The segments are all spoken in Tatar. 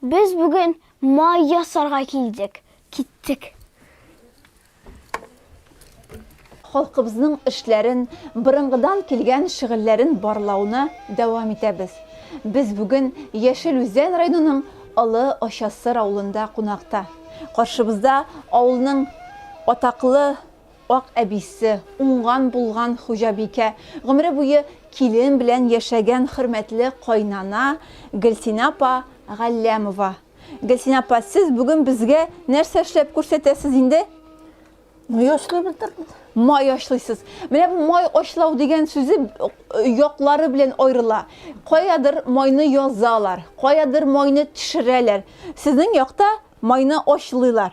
Без бүген май ясарга килдек. Киттек. Халкыбызның эшләрен, борынгыдан килгән шөгыльләрен барлауны дәвам итәбез. Без бүген Яшел Үзән районының Олы Очасыр авылында кунакта. Каршыбызда авылның атаклы. Ак әбисе, уңган-булган хуҗабикә, гомере буе килен белән яшәгән хөрмәтле кайнана Гөлсинә апа Галләмова. Гөлсинә апа, сез бүген безгә нәрсә эшләп күрсәтәсез инде? Май ачлый белдердем. Май ачлыйсыз. Менә бу май ачлау дигән сүзе яклары белән аерыла. Каядыр майны язалар, каядыр майны төшерәләр. Сезнең якта майны ачлыйлар.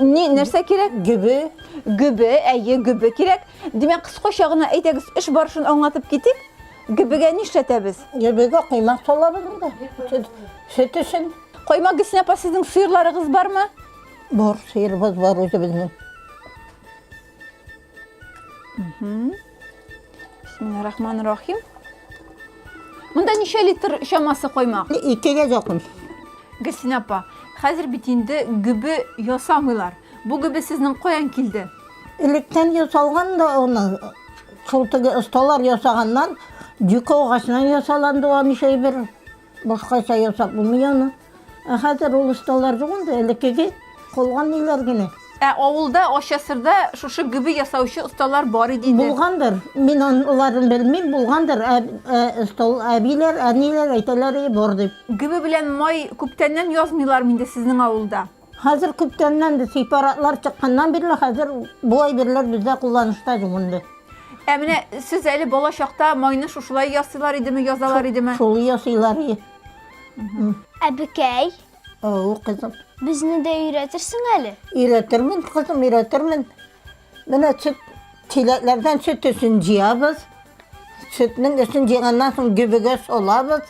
Ни, нәрсә кирәк? Гөбе. Гөбе, әйе, гөбе кирәк. Димәк, кыскача гына әйдәгез, эш барышын аңлатып китик. Гөбегә ни эшләтәбез? Гөбегә коймак салабыз инде. Сөт, сөт өчен. Коймак Гөлсинә апа, сезнең сыерларыгыз бармы? Бар, сыерыбыз бар үзебезнең. Бисмилла рахман рахим. Монда ничә литр чамасы коймак? Икегә якын. Гөлсин апа, хәзер бит инде гөбе ясамыйлар. Бу гөбе сезнең каян килде? Электән ясалган да аны шул теге осталар ясаганнан, дюка агачынан ясаланды аны шәйбер. Башкача ясап булмый аны. Ә хәзер ул осталар юк инде, элеккеге калган ниләр генә. Ә авылда, Ачасырда шушы гөбе ясаучы осталар бар иде инде. Булгандыр. Мин аларын белмим, булгандыр. Ә, ә, остал әбиләр, әниләр әйтәләр, е, бар дип. Гөбе белән май күптәннән язмыйлармы инде сезнең авылда? Хәзер күптәннән без сепаратлар чыкканнан бирле, хәзер бу әйберләр бездә кулланышта юк инде. Ә менә сез әле бала чакта майны шушылай ясыйлар идеме, язалар идеме? Шул ясыйлар иде. Әбекәй. Ау, кызым. Безне дә өйрәтерсең әле? Өйрәтермен, кызым, өйрәтермен. Менә сөт чиләкләрдән сөт өчен җыябыз. Сөтнең өчен җыйганнан соң гөбегә солабыз.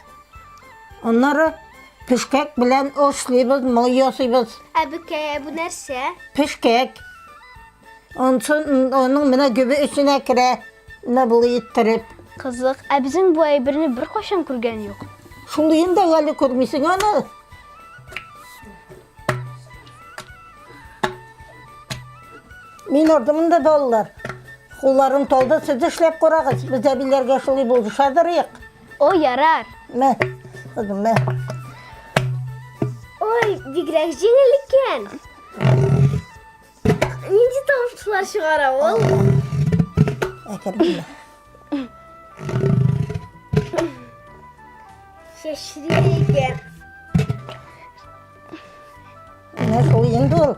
Аннары пешкәк белән ошлыйбыз, май ясыйбыз. Ә бекәя бу нәрсә? Пешкәк. Онсын аның менә гөбе эченә керә. Менә болай иттереп. Кызык. Ә безнең бу әйберне беркайчан күргән юк. Шундыен да әле күрмисең аны. Мин ордым инде балалар. Кулларым толды, сез эшләп карагыз. Без әбиләргә шулай булды шадырыйк. О, ярар. Мә, кызым, мә. Ой, бигрәк җиңел икән. Нинди тамшылар чыгара ул? Әкердә. Чәчле икән. Менә шул инде ул.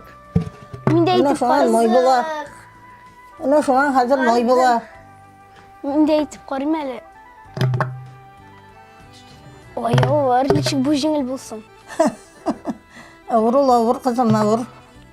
Мин дә әйтеп карыйм. Мой була. Менә шуңа хәзер мой була. Мин дә әйтеп карыйм әле. Ой, авыр, ничек бу җиңел булсын. Авыр ул, авыр, кызым, авыр.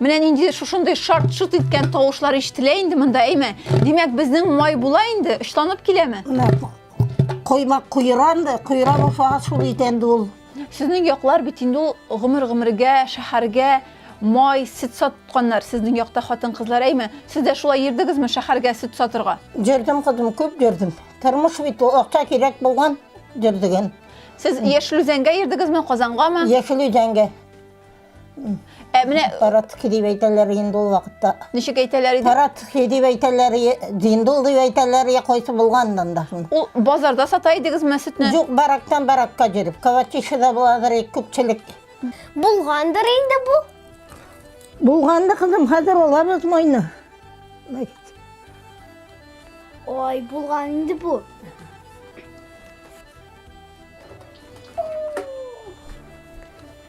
Менә нинди шушындый шарт-шут иткән тавышлар ишетелә инде монда, әйме? Димәк, безнең май була инде, очланып киләме? Койма куйра инде, куйра булса шул бит инде ул. Сезнең яклар бит инде ул гомер-гомергә, шәһәргә май, сөт сатканнар сезнең якта хатын-кызлар, әйме? Сез дә шулай йөрдегезме шәһәргә сөт сатырга? Йөрдем, кызым, күп йөрдем. Тормыш бит ул, акча кирәк булган, йөрдегем. Сез Яшел Үзәнгә йөрдегезме, Казангамы? Яшел Үзәнгә. Ә менә Паратки дип әйтәләр инде ул вакытта. Ничек әйтәләр иде? Паратки дип әйтәләр, диндул дип әйтәләр, я кайсы булганнан да. Ул базарда сата идегезме сөтне? Юк, барактан баракка җөреп. Кавачишеда буладыр, күпчелек. Булгандыр инде бу. Булганды кызым, хәзер алабыз майны. Ой, булган инде бу.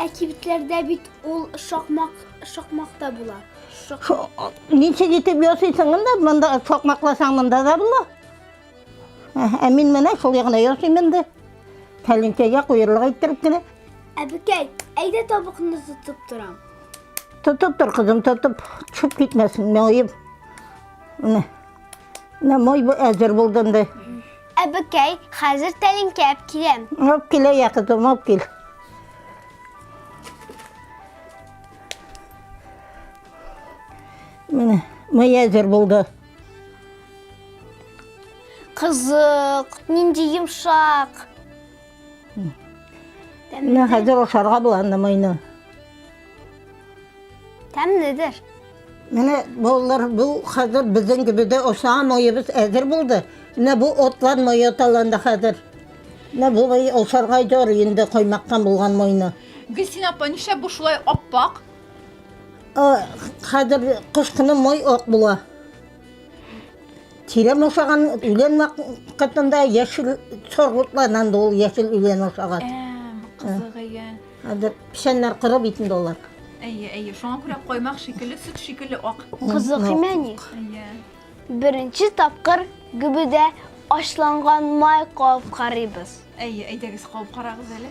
Ә кибетләрдә бит ул шакмак, шакмакта була. Шак... Ничек итеп ясыйсың инде? Монда шакмакласаң монда да була. Ә мин менә шул ягына ясыйм инде. Тәлинкәгә куерлык иттереп кенә. Әбекәй, әйдә табыкны тотып торам. Тотып тор, кызым, тотып. Чүп китмәсен, моем. Менә. Менә мой әзер булды инде. Әбекәй, хәзер тәлинкә әп киләм. Алып килә, я кызым, алып кил. Менә, мый әзер булды. Кызык, нинди йомшак. Менә хәзер ашарга була анда майны. Тәмледер. Менә балалар, бу хәзер безнең гөбедә аша майыбыз әзер булды. Менә бу отлар май аталанда хәзер. Менә бу май ашарга җор инде каймактан булган майны. Гөлсин апа, нишләп бу шулай аппак? Хәзер кыш көне май ак була. Тирем ашаган үлен вакытында яшел соргутлардан да ул яшел үлен ашаган. Кызыгыя. Хәзер печәннәр коры бит инде алар. Әйе, әйе. Шуңа күрә коймак шикелле, сөт шикелле ак. Кызык имәни. Әйе. Беренче тапкыр гөбедә ашланган май кабып карыйбыз. Әйе, әйдәгез кабып карагыз әле.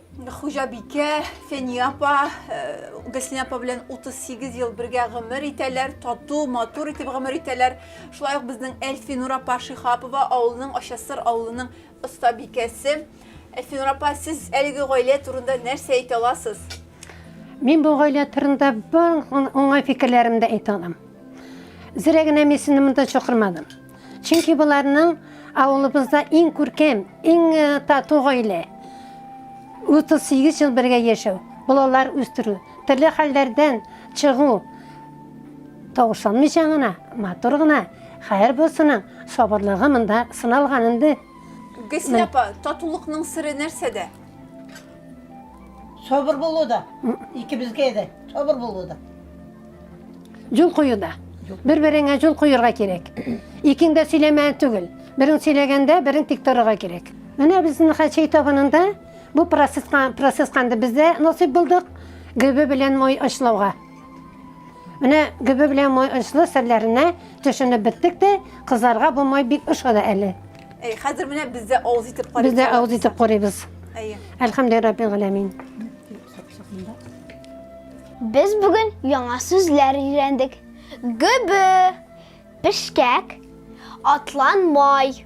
Хуҗабикә, Фәния апа, Гөлсинә апа белән 38 ел бергә гомер итәләр, тату, матур итеп гомер итәләр. Шулай ук безнең Әлфинур апа Шихапова авылының Ачасыр авылының оста бикәсе. Әлфинур апа, сез әлеге гаилә турында нәрсә әйтә аласыз? Мин бу гаилә турында бар уңай фикерләремдә әйтә алам. Зрә генә мин сезне монда чакырмадым. Чөнки боларның авылыбызда иң күркәм, иң э, тату гаилә. 38 ел бергә яшәү, балалар үстерү, төрле хәлләрдән чыгу. Тавышланмыйча гына, матур гына, хәер булсының сабырлыгы монда сыналган инде. Гөлсин апа, татулыкның сыры нәрсәдә? Сабыр булу да. Икебезгә дә сабыр булу да. Юл кую да. Бер-береңә юл куярга кирәк. Икең дә сөйләмә түгел. Берең сөйләгәндә, берең тик торырга кирәк. Менә безнең Хәчәй табынында бу процесска процесска инде бездә насыйп булдык гөбе белән май ашлауга. Менә гөбе белән май ашлы серләренә төшенеп беттек тә, кызларга бу май бик ошады әле. Әй, хәзер менә без дә авыз итеп карыйбыз. Без дә авыз итеп карыйбыз. Әйе. Әлхәмдулиллаһи раббил галәмин. Без бүген яңа сүзләр өйрәндек. Гөбе, пешкәк, атланмай.